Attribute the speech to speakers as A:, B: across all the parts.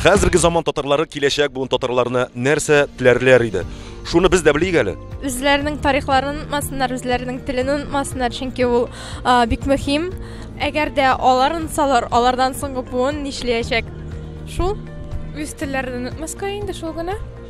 A: Хәзерге заман татарлары киләчәк буын татарларына нәрсә теләрләр иде? Шуны без дә белик әле. Үзләренең тарихларын
B: онытмасыннар, үзләренең телен онытмасыннар, чөнки ул бик мөһим. Әгәр дә алар онытсалар, алардан соңгы буын нишләячәк? Шул үз телләрен онытмаска инде шул гына.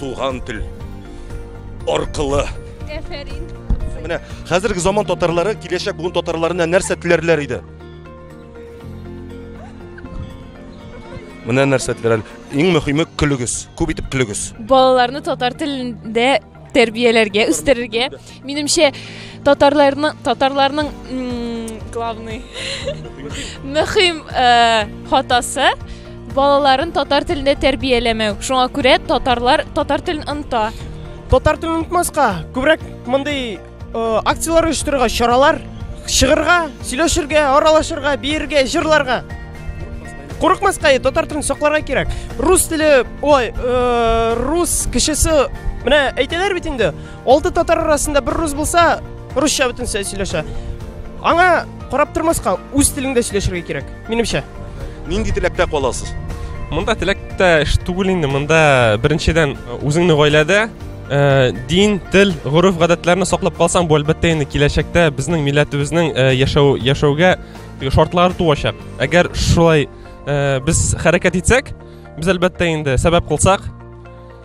A: Туган тел аркылы. Әфәрин.
B: Менә
A: хәзерге заман татарлары киләчәк буын татарларына нәрсә теләрләр иде? Менә нәрсә теләр. Иң мөһиме көлегез. Күп итеп көлегез. Балаларны татар
B: телендә тәрбияләргә, үстерергә. Минемчә, татарларның татарларның главный мөһим э, хатасы балаларын татар телендә тәрбияләмәү. Шуңа күрә татарлар татар телен оныта. Татар телен
C: онытмаска, күбрәк мондый э, акцияләр оештырырга, чаралар чыгырга, сөйләшергә, аралашырга, биергә, җырларга. Курыкмаска, татар телен сакларга кирәк. Рус теле, ой, э, рус кешесе, менә әйтәләр бит инде, Алты татар арасында бер рус булса, русча бөтен сөйләшә. Аңа карап тормаска, үз телеңдә сөйләшергә кирәк, минемчә. Нинди теләктә
A: каласыз? Монда теләктә
D: эш түгел инде, монда беренчедән үзеңне гаиләдә Э, дин, тел, гореф гадәтләрне саклап калсаң, бу әлбәттә инде киләчәктә безнең милләтебезнең э, яшәү яшәүгә шартлар туачак. Әгәр шулай э, без хәрәкәт итсәк, без әлбәттә инде сәбәп кылсак,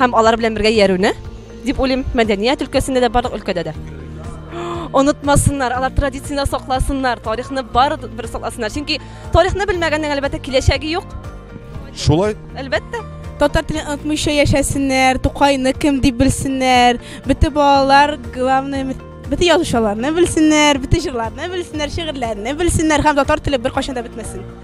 E: һәм алар белән бергә иярүне дип уйлыйм мәдәният өлкәсендә дә барлык өлкәдә дә онытмасыннар алар традицияне сакласыннар тарихны бар бер сакласыннар чөнки тарихны белмәгәннең әлбәттә киләчәге юк шулай
A: әлбәттә
E: татар телен
F: онытмыйча яшәсеннәр тукайны кем дип белсеннәр бөтен балалар главное бөтен язучыларны белсеннәр бөтен җырларны белсеннәр шигырьләрне белсеннәр һәм татар теле беркайчан да бетмәсен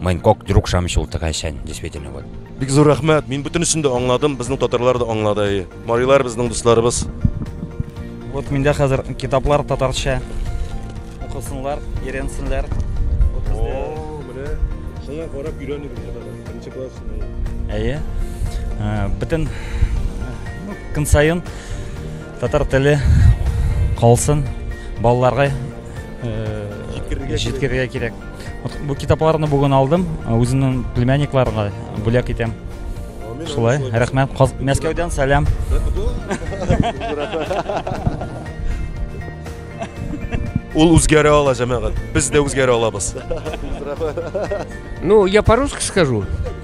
G: Мин кок друг шамыч ул тыгайчан, действительно вот. Бик зур рәхмәт, мин
A: бөтенесен дә аңладым, безнең татарлар да аңлады. Марилар безнең дусларыбыз.
H: Вот миндә хәзер китаплар татарча. Укысынлар, иренсенләр. Вот бездә. О,
A: менә шуңа карап өйрәнегез татарча. Беренче класс шуны. Әйе.
H: Э, бөтен ну, көн саен татар теле калсын, балаларга э, җиткерергә кирәк. Бу китапларны бүген алдым, үземнең племянникларга бүләк итәм. Шулай, рәхмәт. Мәскәүдән сәлам.
A: Ул үзгәрә ала, җәмәгать. Без дә үзгәрә алабыз.
I: Ну, я по-русски скажу.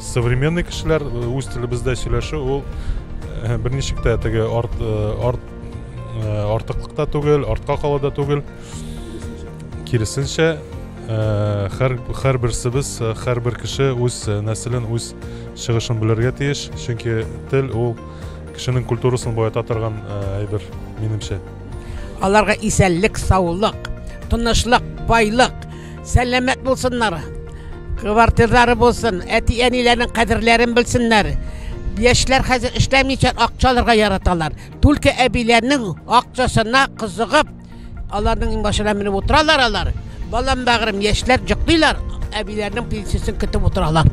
J: современный кешеләр э, үз телебездә сөйләшү ул э, берничек тә теге арт, э, арт, артыклыкта түгел артка кала да түгел киресенчә һәр һәр берсебез һәр бер кеше үз нәселен үз чыгышын белергә тиеш чөнки тел ул кешенең культурасын баета торган әйбер минемчә Аларга
K: исәнлек, саулык, тынычлык, байлык, сәламәт булсыннар. Квартирлары булсын, әти-әниләрнең кадерләрен белсеннәр. Яшьләр хәзер эшләмичә акча алырга яраталар. Түлке әбиләрнең акчасына кызыгып, аларның иңбашына менеп утыралар алар. Балам бәгырем, яшьләр җыклыйлар, әбиләрнең пенсиясен көтеп утыралар.